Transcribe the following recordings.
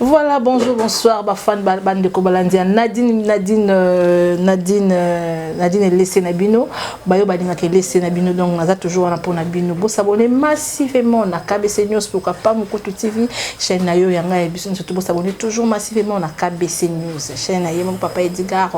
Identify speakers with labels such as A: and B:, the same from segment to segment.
A: Voilà, bonjour, bonsoir, ba fan ba bande de Kobalandia. Nadine Nadine euh, Nadine euh, Nadine laissé Nabino, bayo badinga ke laissé Nabino donc naza toujours là pour Nabino. Bo s'abonner massivement na KBC News pour pas Mukutu TV, chaîne na yo yanga et bisous surtout bo s'abonner toujours massivement na KBC News. Chaîne na yemo papa Edgar,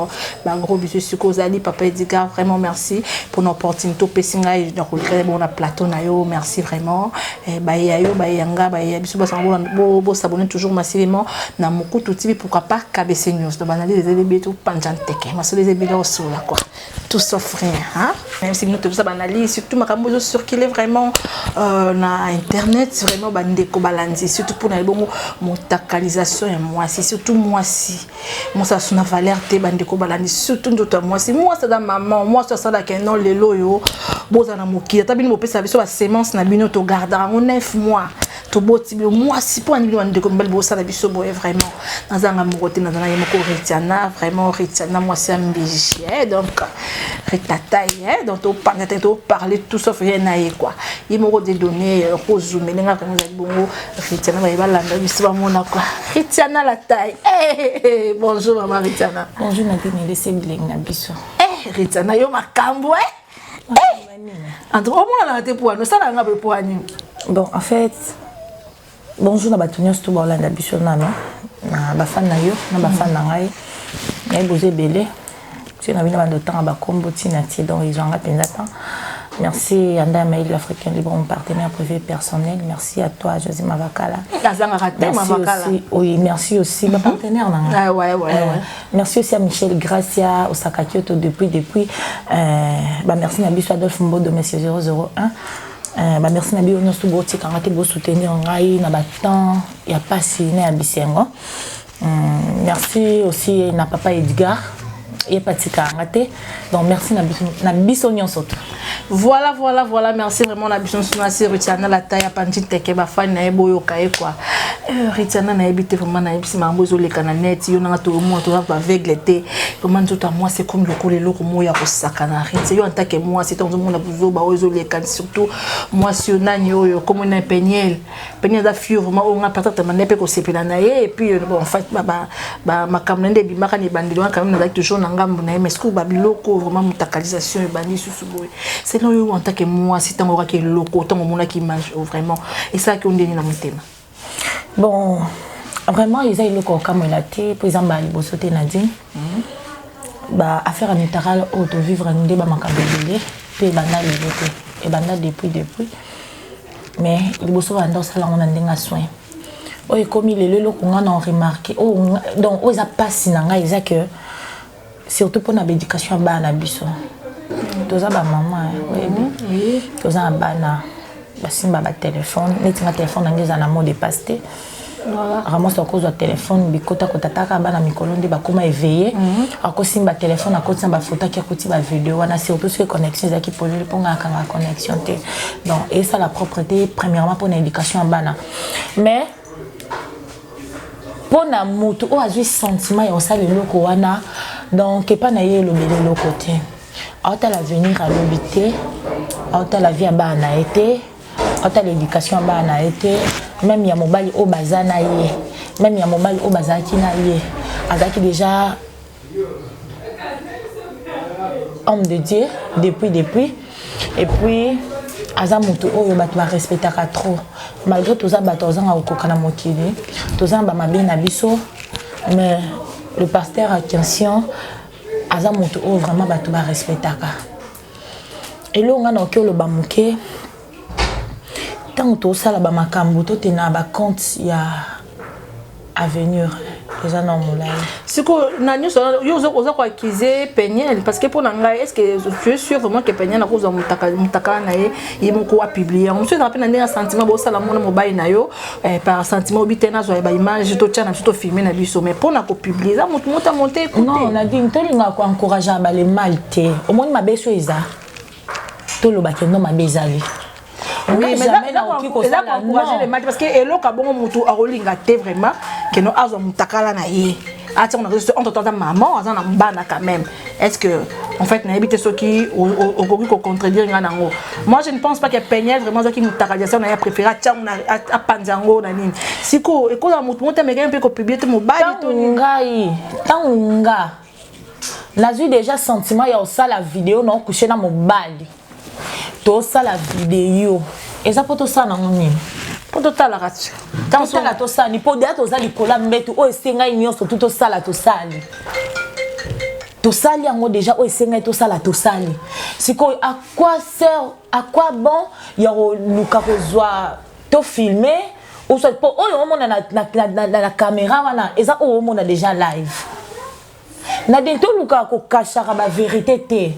A: ba gros bisous suko zali papa Edgar, vraiment merci. pour l'opportunité opesi ngai na kolekala bongo na plateau na yo merci vraiment eh, baye ya yo baye ya nga baye ya biso basanga bosabone toujours masilement na mokutu tibi pourquoi pas kabc news to banalise ezali bie topanja nteke masolo ezali bie osola quoi tout sauf rien hein? même si bino tozosala banalise surtout makambo ezo circule vraiment euh, na internet vraiment bandeko balandi surtout mpona ebongo motakalisation ya mwasi surtout mwasi mosasu na valeur te bandeko balandi surtout nzoto ya mwasi mwasi aza mama mwasi oyo asalaka non lelo oyo bozala na mokili ata bino bopesa biso basemence na bino togardaka yango 9 mois toboti bino mwasi mpo ani bino bandeko mibali bosala biso boye vraiment nazanga moko te nazala ye moko retiana vraiment retiana mwasi ya mbiji eh, donc retatai eh, donc topanga te toparle tout sauf ye na ye kua ye moko dedonne kozumele nga vraimen ezali bongo Ritiana baye balanda biso bamona kwa Ritiana la taille hey, eh, eh, hey, eh, bonjour mama Ritiana bonjour Nadine elese
B: bilengi na biso hey, Ritiana yo
A: makambo eh? hey. en tout cas omonanaka te poani osalaka nga mpe poani bon en fait
B: bonjour na bato nyonso to baolanda biso nano na bafani na yo na bafani na ngai nayebi oza ebele Tio na bino bando otanga ba kombo ti na ti donc ezwanga penza temps. Merci à Ndaya Maïl, l'Africain libre, mon partenaire privé personnel. Merci à toi, José Mavakala. Merci aussi, oui, merci aussi, ma partenaire. Ah, ouais, ouais, euh, ouais. Merci aussi à Michel Gracia, Osaka Kyoto, depuis, depuis. Euh, bah, merci Nabiso Adolphe Mbodo, monsieur 001. Euh, bah, merci Nabi Onyosu Boti, Karate, Bo soutenir Ngai, Nabatan, Yapasi, Né à Bisengo. Hum, merci aussi na papa Edgar ye mpe atika yanga te donc merci na biso, na biso nyonso tu voilà voilà
A: voilà merci vraiment na biso nyonso nasi ritiana lata ya panji teke bafani na ye boyoka ye kua eh, ritiana nayebi te vraiment nayebisi makambo ezoleka na net yo nanga toyomona toza baveugle te vraiment nzoto ya mwasi ekomi lokola eloko moko ya kosakana ritie yo antake mwasi ntango ozomona buzoba oyo ezoleka surtout mwasi yo nani oyo komona peniele peni aza fiure ma oyo nga patata mande mpe kosepela na ye epuis euh, bon fait makambo na nde ebimaka na ebandeli wana quand même nazali toujours na ngambo na ye mais sikoyo babiloko vraiment motakalisation ebandi susu boye selon yo en tant que mwasi ntango okaki eloko ntango omonaki image oh, vraiment esalaki yo ndenge na motema bon
B: vraiment eza eloko okamwela te mpo eza mbala liboso te nadine mhm. ba affaire ya mitarale oyo tovivre nde bamakambo ebele mpe ebanda lelo te ebanda depuis depuis mais liboso banda osala yango na ndenge ya soin oyo ekomi lelo eloko ngai na remarke oh, donc oyo eza mpasi na ngai eza que surtout mpona baéducation ya bana na biso toza bamama oyebi mhm. toza na bana basimba batelefone neti nga telefone yango eza na mot de passe te Ramos akozwa telefone bikota kotataka bana mikolo nde bakoma eveye mhm. akosimba telefone akotisa bafoto ake akoti bavideo wana surtout soki connexion ezalaki polele mpo ngai akanga connexion te donc esala propre te premièrement mpo na éducation ya bana mais mpo na motu oyo azwi sentiment ya kosala eloko wana donc epai na ye elobeli eloko te aotala avenir alobi te aotala vie ya bana na ye te ata l'éducation ya bana na ye te meme ya mobali oyo baza na ye meme ya mobali oyo bazalaki na ye azalaki déjà homme de dieu depuis depuis et puis aza motu oyo bato barespectaka trop malgré toza bato azanga kokoka na mokili toza na bamabe na biso mais le pasteur akension aza motu oyo vraiment bato barespectaka Eloko nga nakoki oloba moke ntango tosala bamakambo tote na bacompte ya avenir eza na molai sikoyo na
A: nyonso yo oza koaccuse peniel parce que mpo na ngai est ce que tu es sûr vraiment que peniel akozwa motakala na ye ye moko apublie yango mosusu ezala mpe na ndenge ya sentiment bosala mona mobali na yo eh, par sentiment obi te nazwa ba image totya na biso tofilme na biso mais mpo na kopublie eza motu moto amonte ekotenon nadine tolingaka
B: koencouragea bale mal te omoni mabe so eza tolobake no mabe ezali eza
A: koencourage le mal parce que eloko abongo motu akolinga te vraiment keno azwa motakala na ye ati yango na réseau entre temps aza maman aza na bana quand même est ce que en fait nayebi te soki okoki kocontredire ngai na yango moi je ne pense pas que peniel vraiment azwaki motakalisation na ye préféré atya yango apanza yango na nini sikoyo ekozala motu moko te amekaki mpe kopiblie te mobali to ngai
B: ntango nga nazwi déjà sentiment ya kosala video na okushe na mobali tosala video eza mpo tosala nango nini mpo totalaka
A: tosala tosali
B: mpo deya toza likolo ya mbetu oyo esengai nyonso tu tosala tosali tosali yango deja oyo esengai tosala tosali sikoyo à quoi sert à quoi bon ya koluka kozwa tofilme osoi mpo oyo omona na, na, na, na, na kamera wana eza oyo omona deja live Nadine toluka kokashaka ba verite te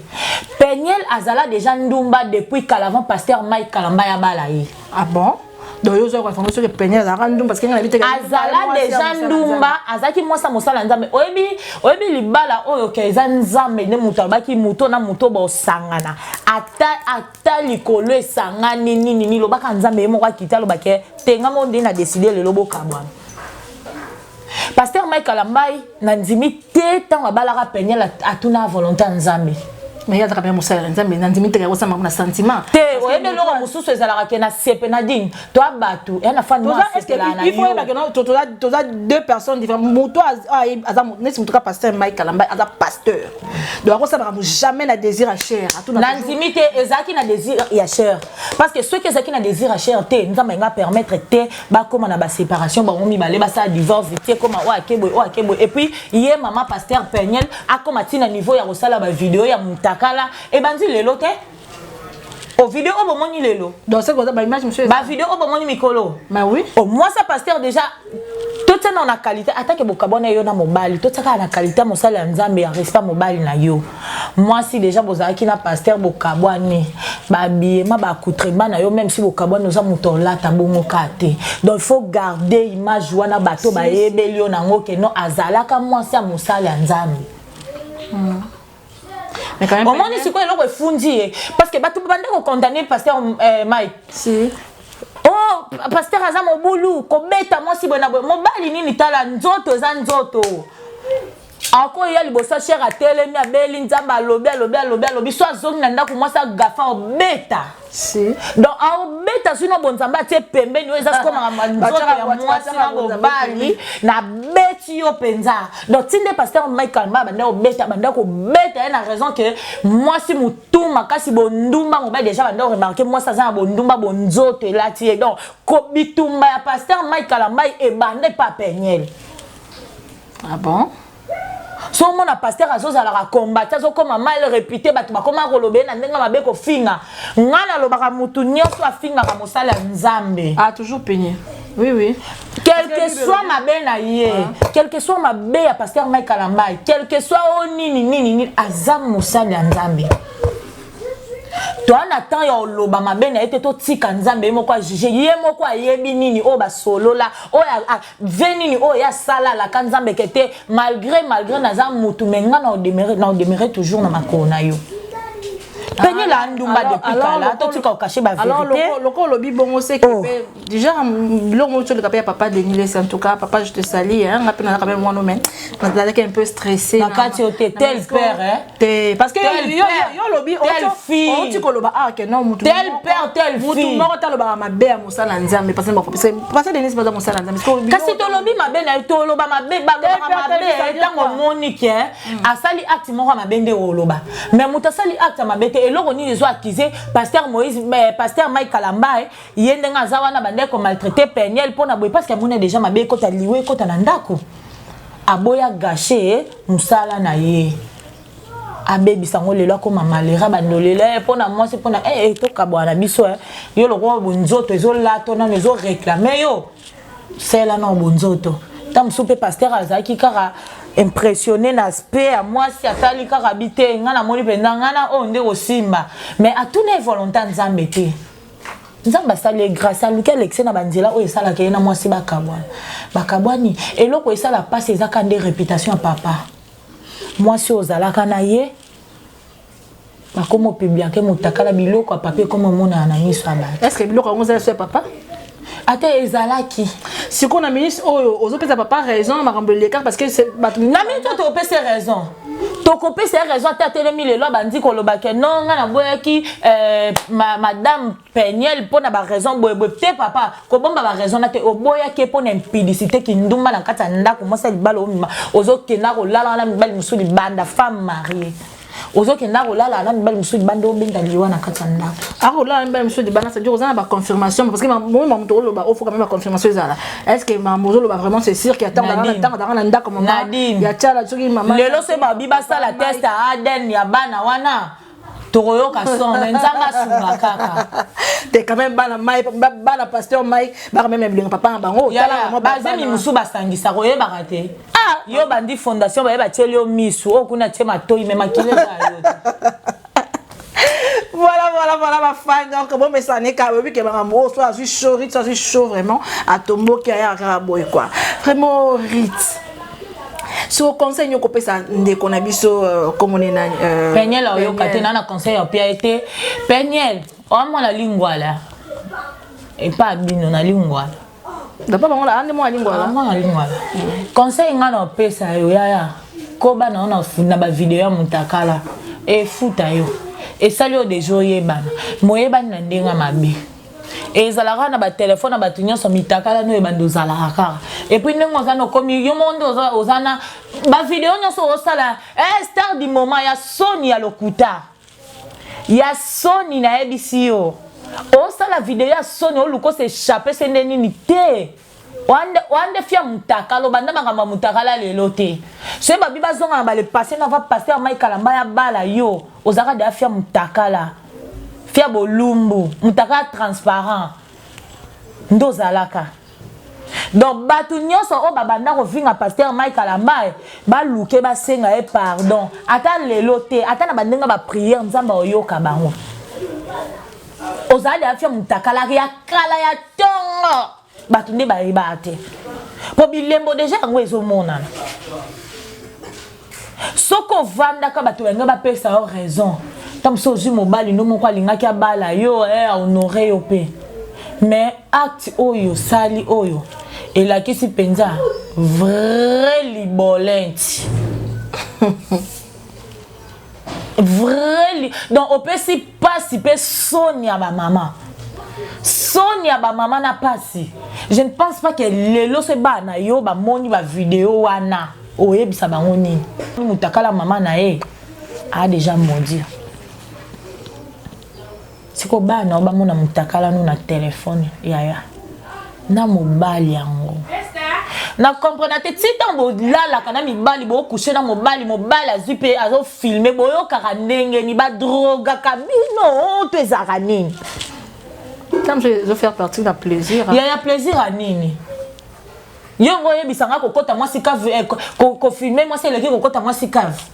B: peniel azala deja ndumba depuis kala avant pasteur mike kalamba ya bala ye ah bon
A: donc yo ozwaka information soki pene azalaka ndumba parce que ngai nabitaka azala deja
B: ndumba azalaki mwasi ya mosala ya nzambe oyebi oyebi libala oyo ke eza nzambe nde moto alobaki moto na moto bosangana ata ata likolo esangani nini nini lobaka nzambe ye moko akita alobake tenga mo nde na deside lelo bokabwana Pasteur Mike Kalambayi na ndimi te tango abalaka Peniel atuna volonté ya Nzambe. Mais y'a zaka bien
A: musala na Nzambe na ndimi te yako sama na sentiment. Te oyebi loko
B: mususu ezalaka ke na sepe na ding. Toi batu ya na fan moi sepe la na yo. Il faut yeba que
A: non to toza toza deux personnes différentes. Mutu aza nesi mutu ka pasteur Mike Kalamba aza pasteur. Donc ako sama mu jamais na désir ya cher. Na ndimi te
B: ezaki na désir ya cher. Parce que ceux qui ezaki na désir ya cher te Nzambe nga permettre te bakoma na baséparation bango mibale basala divorce vitie ekoma oyo akeboy oyo akeboy epuis ye mama paster peniel akoma ntina niveau ya kosala bavideo ya mutakala ebandi lelo te ovideo oyo bomoni lelo
A: bavideo oyo bomoni mikolo
B: omwasi
A: ya paster
B: déjà totiana na qualité atake bokabwana yo na mobali totiakaka na qualité ya mosali ya nzambe ya respect mobali na yo mwasi deja bozalaki na pasteur bokabwani babiyema baaccoutrement na yo meme si bokabwani oza moto olata bongo ka te donc faut garder image wana bato bayebeli yo nango ke non azalaka mwasi ya mosali ya nzambe
A: mm. omoni sikoyo eloko efundi
B: ye parce que bato banda kokondamne pasteur eh, mike si.
A: oh
B: pasteur aza mobulu kobeta mwasi boye na boye mobali nini tala nzoto eza nzoto ako eya liboso shere atelemi abeli nzambe alobi alobi alobi alobi so azongi na ndako mwasi agafa obeta si.
A: donc aobeta
B: soki na bonzambe atie pembeni oyo eza sikoyo makambo nzoto ya mwasi na mobali nabeti yo mpenza donc ti nde paster michael ma banda kobeta banda kobeta ye na raison ke mwasi motu makasi bondumba mobali deja banda koremarke mwasi aza na bondumba bonzoto elati ye donc bitumba ya paster michael ambai ebanda epa peniele
A: Ah bon? so
B: omona paster azozalaka kombati azokoma mal repute bato bakoma koloba ye na ndenge mabe kofinga ngai nalobaka motu nyonso afingaka mosala ya nzambe ah, toujours peigne
A: oui oui quelque
B: soit mabe na ye ah. quelque soit mabe ya paster ngai kalambai quelque soit o oh, nini nini nini aza mosali ya nzambe toa na temps ya oloba mabe na ye te totika nzambe ye moko ajuge ye moko ayebi nini oyo basolola oyo vie nini oyo ye asala alaka nzambe ke te malgré malgré naza mutu me nga na odemere na odemere toujours na makolo na yo penyela ah, ndumba depuis kala totika okache baveriteloko olobi
A: bongo seke oh. pe déjà biloko moko toleka pe ya papa denis lesi en tout cas papa je te sali nga pe nazaka meme wana me nazalaki un peu stressé na kati yo te tel
B: père hein te parce que yo
A: olobi oti koloba ah que non mutu tel père tel fille
B: mutu moko talobaka mabe
A: mosala ya nzambe pasa bakopesa pasa denise baza mosala ya nzambe sikoyo kasi tolobi mabe
B: na ye toloba mabe balobaka mabe ntango omoni ke hmm. asali acte moko ya mabe nde oloba me moto asali acte ya mabe te eloko nini ezo akize paster moïse eh, paster mike kalambae ye ndenge aza wana bandai komaltraite peniel mpo na boye parce que amona deja mabe ekota liwa ekota na ndako aboya gashe mosala na ye abebisa yango lelo akoma malera bandolela ye eh, mpo na mwasi mpo na ee eh, eh, tokabwana na biso yo lokola bonzoto ezolato nano ezoreklame yo sela nao bonzoto ntango mosusu mpe paster azalaki kaka impressionne na aspect ya mwasi atali kaka bi te ngai namoni mpenza ngai na oyo oh, nde kosimba mais atuna ye volonta nzambe te nzambe asali ye grâce aluki alekise na banzela oyo esalaka ye na mwasi bakabwana bakabwani eloko esala mpasi ezaka nde reputation ya papa mwasi oyo ozalaka na ye bakomo publianke motakala biloko ya papier ekomi omonana na miso ya bato estce biloko yango ozala so ya
A: papa ata
B: ezalaki sikoyo na
A: ministre oyo ozopesa papa raison na makambo elekaka parce que bato na minute oyo topesi
B: raison tokopesa ye raison ata atelemi lelo abandi koloba ke no ngai naboyaki eh, madame peniel mpo na baraison boyeboye te papa kobomba baraison na te oboyaki ye mpo na impudicité kindumba na kati ya ndako mwasi ya libala omima ozokenda kolala wana mibali mosusu libanda femme marie ozokenda kolala na mibali mosusu libanda obenda liwa na kati ya ndako akolala na mibali mosusu
A: libanda cest oza na baconfirmation parce que moi ma moto oloba ofoka mpe baconfirmation ezala est ce que mama ozoloba vraiment c'est sûr ke ntango danga na ndako mama ya tiala soki mama lelo soki babi basala
B: test ya adn ya bana wana tokoyoka son mais nzambe asunga kaka te quand même
A: bana mai bana pasteur mai baka même na bilenga papa na bango tala mo bazemi
B: musu basangisa koyebaka te ah! yo bandi fondation baye batieli yo misu oyo kuna tie matoi me makili eza yo voilà
A: voilà voilà ma fan donc bon mais ça n'est qu'à oui que maman oh soit suis chaud soit suis chaud vraiment à tombo qui a un boy quoi vraiment rite so conseil nini okopesa ndeko na biso euh, komone na euh, peniel ayoka te
B: na na conseil ya pia ete peniel oamona lingwala epa bino na lingwala dapa bango
A: ande mwana lingwala mwana lingwala conseil
B: ngai na opesa yo yaya koba na yo na bavideo ya motakala efuta yo esali yo deja oyebana moyebani na ndenge mabe ezalaka na batelefone ya bato nyonso mitakala no ebanda ozalaka kaka epuis ndenge oza nokomi yo moko nde oza na bavideo nyonso osala eh, star du moment ya soni ya lokuta ya soni nayebisi yo osala video ya soni oluka ose echappe se nde nini te Wande, wande fia mutakalo banda makambo ya mutakala lelo te soki babi bazonga na bale passe na va pasteur mai kalamba ya bala yo ozalaka deya fia mutakala fia bolumbu mutakala transparent nde ozalaka donc bato nyonso oyo babanda kofinga paster mike kalambae baluke basenga ye pardon ata lelo te ata na bandenge bapriere nzambe akoyoka bango ozala de afya mutakalari ya kala ya tongo bato nde bayebaka te mpo bilembo deja yango ezomonana soki ovandaka bato balingi bapesa yo raison ntango mosusu ozwi mobali no moko alingaki abala yo eh, ahonore yo mpe mais acte oyo osali oyo elakisi mpenza vrai libolenti vrai donc opesi pasi pe soni ya ba mama soni ya ba mama na pasi je ne pense pas que lelo se bana na yo bamoni ba video wana oyebisa bango nini mutakala mama na ye a deja maudire siko bana bamona mutakala no na telefone yaya na mobali yango na comprena te ti ntango bolalaka na mibali bokushe na mobali mobali azwi mpe azofilme boyokaka ndenge ni badrogaka bino to ezalaka nini
A: yaya plaisir ya
B: nini yo ngo oyebisa ngai kokɔta mwasi kave eh, kofilme mwasi eleki kokɔta mwasi kave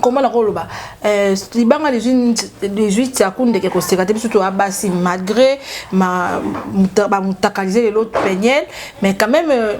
A: comment na koloba euh, libanga lizwi tiaku ndeke koseka te biso toya basi malgré bamutakalise lelo peniel mais quand même euh,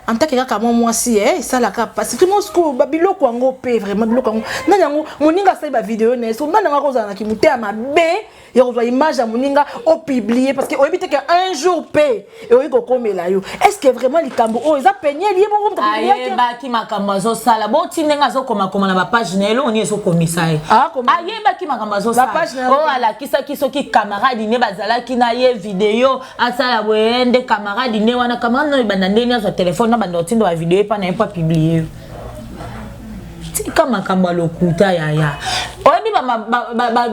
A: en tant que kaka mwa mwasi eh, esalaka mpasi tout mos koba biloko yango mpe vraiment biloko yango nani yango moninga asali bavideo na ye so nani yango akozala na kimoteya mabe ya kozwa image ya moninga opublie parce que oyebi te ke un jour mpe ekoki kokomela yo est ce que vraiment likambo oyo eza peniel ye moko ayebaki makambo
B: azosala boti ndenge azokomakoma na bapage na ye elongo nini ezokomisa ye ah, ayebaki makambo azosala oyo oh, alakisaki soki camarade ne bazalaki na ye video asala boye nde camarade ne wana camarade no ebanda ndeni azwa telefone na banda otindo ya video epa na ye mpo apiblie yo tika makambo ya lokuta yaya oyebi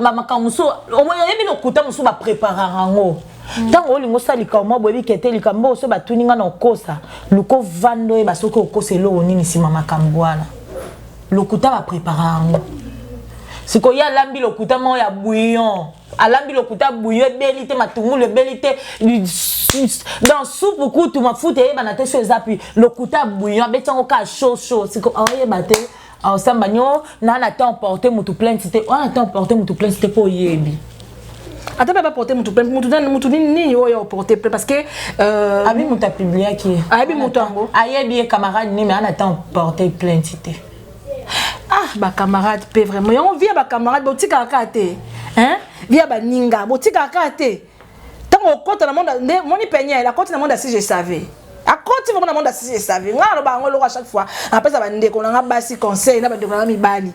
B: bamakambo mosusu oyebi lokuta mosusu bapreparaka yango ntango hmm. olingi osala likambo mwa boyebi kete likambo oyo so batuni ngai na okosa luka ovanda oyeba soki okosa eloko nini nsima makambo wana lokuta bapreparaka yango sikoyo ye alambi lokuta moko ya bouillon alambi lokuta buyo ebeli te matungulu ebeli te dans supu kutu mafuta eyebana te so eza pi lokuta buyo abeti yango kaka chaud chaud siko oyeba oh, te osamba oh, nyo na na temps porte mutu plainte te wana temps porte mutu plainte te mpo oyebi ata mpe
A: baporte motu plainte motu nani motu nini oyo oporte plainte parce que euh, abi moto
B: apubliaki ayebi moto yango
A: ayebi ye camarade
B: nini ana temps porte plainte te
A: ah ba camarade pe vraiment yango vie ya ba camarade botikaka kaka te hein vie ya baninga botikaka kaka te ntango okota na monde nde moni peniel akoti na monde asi je savais akoti vraimen na monde asi je savais ngai aloba yango eloko a chaque fois apesa bandeko na ngai basi conseil na bandeko na ngai mibali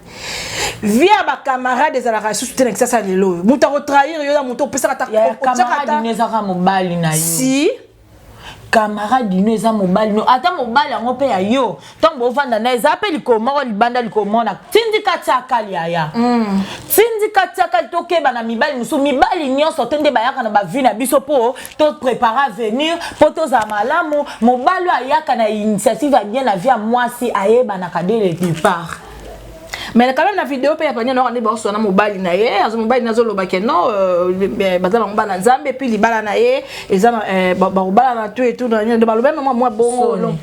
A: vie ya bacamarade ezalaka lisusu te na kisasa lelo oyo moto akotrahir yo na moto opesaka ta
B: mobali na yo si camarade no eza mobali no ata mobali yango mpe ya yo ntango bovanda na eza mpe likolo moko libanda likolo moko na tindika tiakali yaya mm. tindika tiakali tokeba na mibali mosusu mibali nyonso te nde bayaka na bavi na biso mpo toprépare avenir mpo tozala malamu mobali oyo ayaka na initiative ya bien na vie ya mwasi ayebanaka de le départ mais
A: quand même na video mpe ya pania noko nde baoswa na mobali na ye azo mobali na azoloba ke non euh, baza bango bana nzambe mpe libala na ye eza euh, bakobalana to etu na nini baloba mama mwa bongo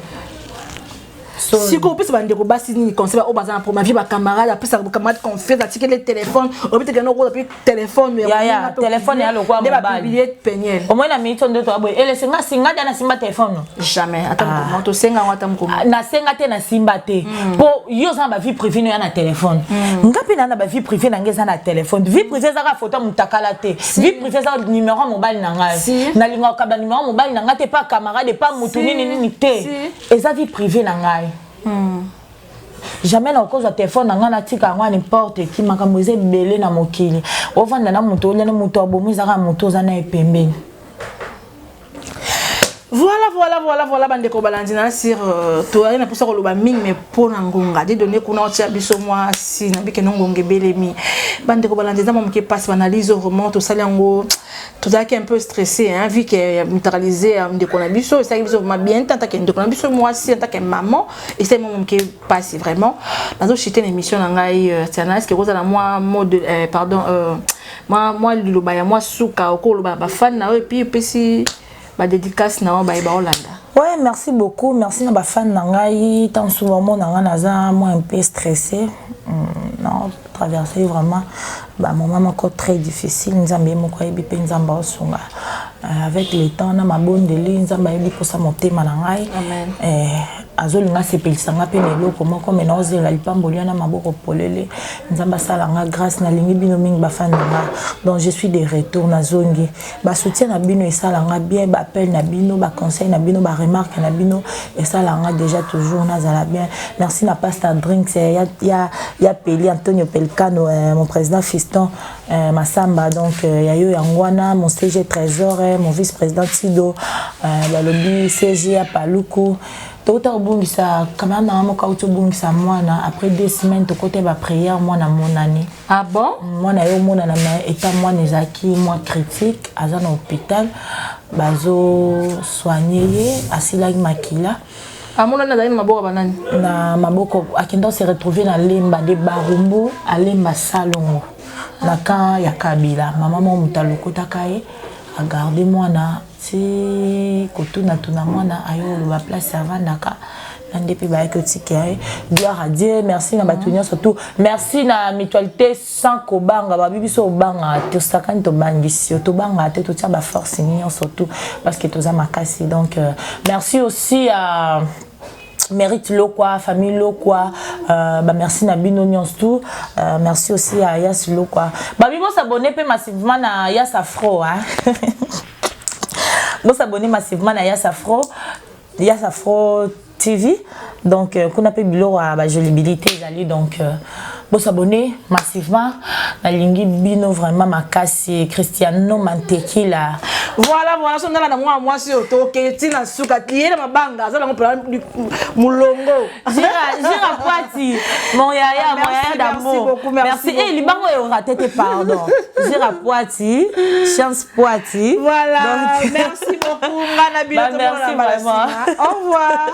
A: sikoyo opesa bandeko basi nini conseil oyo baza na problème vie bacamarade apesa bacamarade confiance atikeli telefone obiteke noko telephone ya yaya telephone
B: ya lokwa mobali ba publier peniel au moins na
A: minute ndo to
B: aboye ele senga singa dana simba telephone no jamais ata ah.
A: mukoma to senga ngata mukoma ah, na senga te na
B: simba te hmm. po yo za ba vie privée no ya na telephone hmm. ngapi na na ba vie privée na ngeza na telephone vie privée za ka photo mutakala te vie privée za numéro mobali na ngai na linga ka ba numéro mobali na ngai te pa camarade pa mutu nini nini te eza vie privée na ngai hmm. jamais na okozwa telefone na ngai natika yango nimporte ki makambo eza ebele na mokili ovanda na moto olene moto abomi ezaka moto oza naye pembeni voilà voilà voilà voilà bandeko balandi na sir euh, toyali na mposa koloba mingi me mpo na ngonga de donne kuna otya biso mwasi na bikeno ngonga ebelemi bandeko balandi eza mwa moke mpasi banalyse orement tosali yango tozalaki un peu stressé hein, vu que euh, neutralisé euh, ndeko na biso esalaki biso vraiment bien te antake ndeko na biso mwasi antake maman esali mwa moke mpasi vraiment nazochite na émission na ngai euh, tianaske ekozala mwa mode pardon mwa liloba ya mwa suka okoloba bafani na yo epuis epesi ba dedicace na yo baye baolanda ouais merci beaucoup merci na bafane na ngai ntango soki bamona ngai naza moi un peu stressé hmm, na traverse vraiment bamoment moko très difficile nzambe ye moko ayebi mpe nzambe aosunga euh, avec le temps na mabondeli nzambe ayebi mposa motema na ngai eh,
A: azolinga
B: asepelisa ngai mpe na eloko moko me naozela lipamboli wana maboko polele nzambe asala ngai grâce nalingi bino mingi bafani na ngai donc je suis de retour nazongi ba soutien na bino esala nga bien ba appel na bino ba conseil na bino ba remarque na bino esala nga déjà toujours nazala bien merci na pasta drinks eh, ya, ya, ya peli antonio pelcano eh, mon président fiston eh, masamba donc eh, ya yo yango wana mon cg trésor eh, mon vice président tido eh, balobi cg ya paluku tokota kobungisa kamera mama moko auti obungisa mwana après deux semaines tokota ba prière mwana amonani ah bon
A: mwana yo omonana
B: ma etat mwana ezalaki mwa critique aza na hôpital bazosoigne ye asilaki makila amonani azali
A: na maboko banani na maboko
B: akenda se retrouve na lemba de barumbu alemba salongo na camp ya kabila mama mwa moto alokotaka ye agarde mwana ti kotuna tuna mwana ayo oloba place avandaka nande mpe bayaki otikela ye gloire à dieu merci na bato nyonso tout merci na mutualité sans kobanga babi biso obangaka te osakani tobangisi yo tobangaka te totia baforce nyonso tout parce que toza makasi donc euh, merci aussi à mérite lokwa famille lokwa euh, ba merci na bino nyonso tout euh, merci aussi à yas lokwa babi bosabone mpe massivement na yas afro hein? bosabone massivement na yas afro yas afro tv donc euh, kuna mpe biloko ya bajolibilité ezali donc euh, Bo s'abonner massivement. Nalingi bino vraiment makasi. Cristiano Mantequilla. Voilà, voilà,
A: son ngala na mwa mwa si otoke tina suka tiye na mabanga azala ngo pela mulongo. Jira jira
B: kwati. Mon yaya, mon yaya d'amour. Merci. Eh libango e orate te pardon. Jira kwati, chance kwati. Voilà.
A: Donc...
B: Merci
A: beaucoup ngana
B: bino to mona.
A: Merci
B: vraiment.
A: Au revoir.